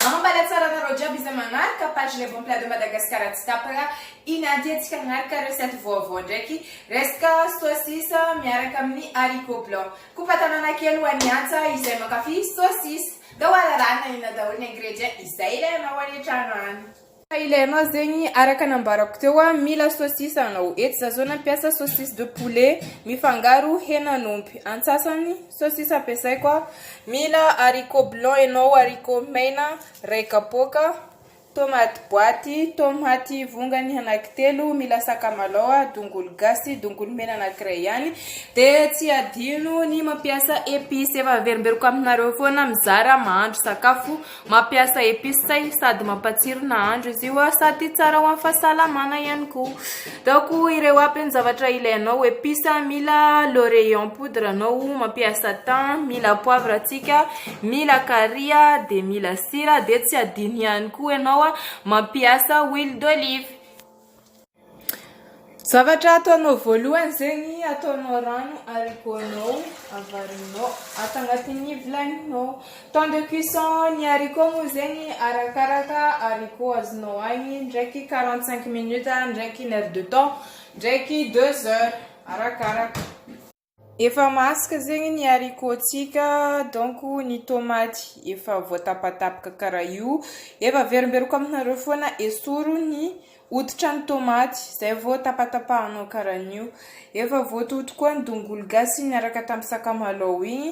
Ambala tsara anareo jiaby izay manaraka page les bons plats de Madagascar tsy tapaka i Nadia tsika hanaraka recette vaovao ndraiky resaka saucisse miaraka amin'ny haricot blanc kopa tanana kely ho an'i Antsa izay mankafy saucisse da ho ararahina ina daholo ny ingrédients izay ilainao any an-trano any Ka ilay anao zegny araka nambarako teo a mila saucisse anao, eto za zao nampiasa saucisse de poulet mifangaro henan'omby, antsasany saucisse ampiasaiko a mila haricot blanc enao, haricot mena ray kapoaka, tomate boaty, tomaty vongany anaky telo, mila sakamalao a, dongolo gasy, dongolo mena anakiray ihany, de tsy adino ny mampiasa epice, efa averimberiko aminareo foana mizara mahandro sakafo. Mampiasa epices say sady mampatsiro nahandro izy io sady tsara ho an'ny fahasalamana ihany koa. Daoko ireo aby ny zavatra ilainao, epices mila laurier en poudre anao, mampiasa thym, mila poivre antsika, mila carry dia mila sira dia tsy adino ihany koa ianao mampiasa huile d'olive. Zavatra ataonao voalohany zegny ataonao rano haricots-nao avarinao ato agnatin'ny vilaninao, temps de cuisson ny haricots moa zegny arakaraka haricots azonao agny ndraiky quarante cinq minutes ndraiky une heure de temps ndraiky deux heures arakaraka. Efa masaka zegny ny haricot-tsika donc ny tomaty efa voatapatapaka karaha io, efa averimberiko aminareo foana esory ny hoditra ny tomaty zay vao tapatapahanao karaha an'io, efa voatoto koa ny dongolo gasy niaraka tamin'ny sakamalao igny.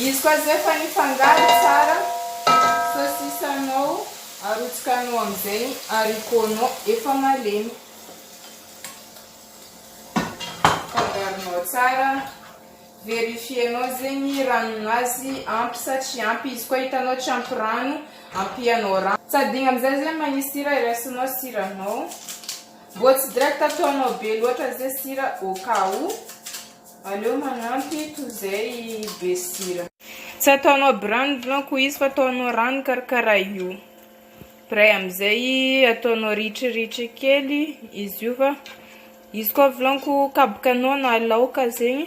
Izy koa zay efa nifangaro tsara sosisanao, arotsakanao amin'izay ny haricots-nao efa malemy. Fangaronao tsara, verifier-nao zay ny ranonazy ampy sa tsy ampy, izy koa hitanao tsy ampy rano, ampianao rano. Tsy adino amin'izay zay manisy sira, iraisinao siranao. Vao tsy direct ataonao be loatra ze sira au cas où, aleo manampy toy zay be sira. Tsy ataonao bran blanc ko izy fa ataonao rano karakara io pray amizay ataonao ritry ritry kely izy io fa izy koa vlan ko kaboka anao na laoka zegny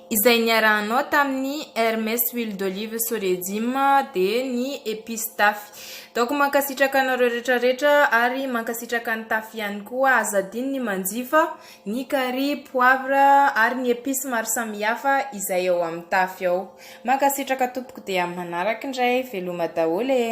Izay niarahanao tamin'ny Hermes huile d'olive Soregim dia ny epices Tafy. Daoko mankasitraka anareo rehetra rehetra ary mankasitraka an'i Tafy ihany koa. Aza adino ny manjifa, ny carry, poivre ary ny epices maro samihafa izay ao amin'ny Tafy ao. Mankasitraka tompoko dia amin'ny manaraka indray. Veloma daholo e!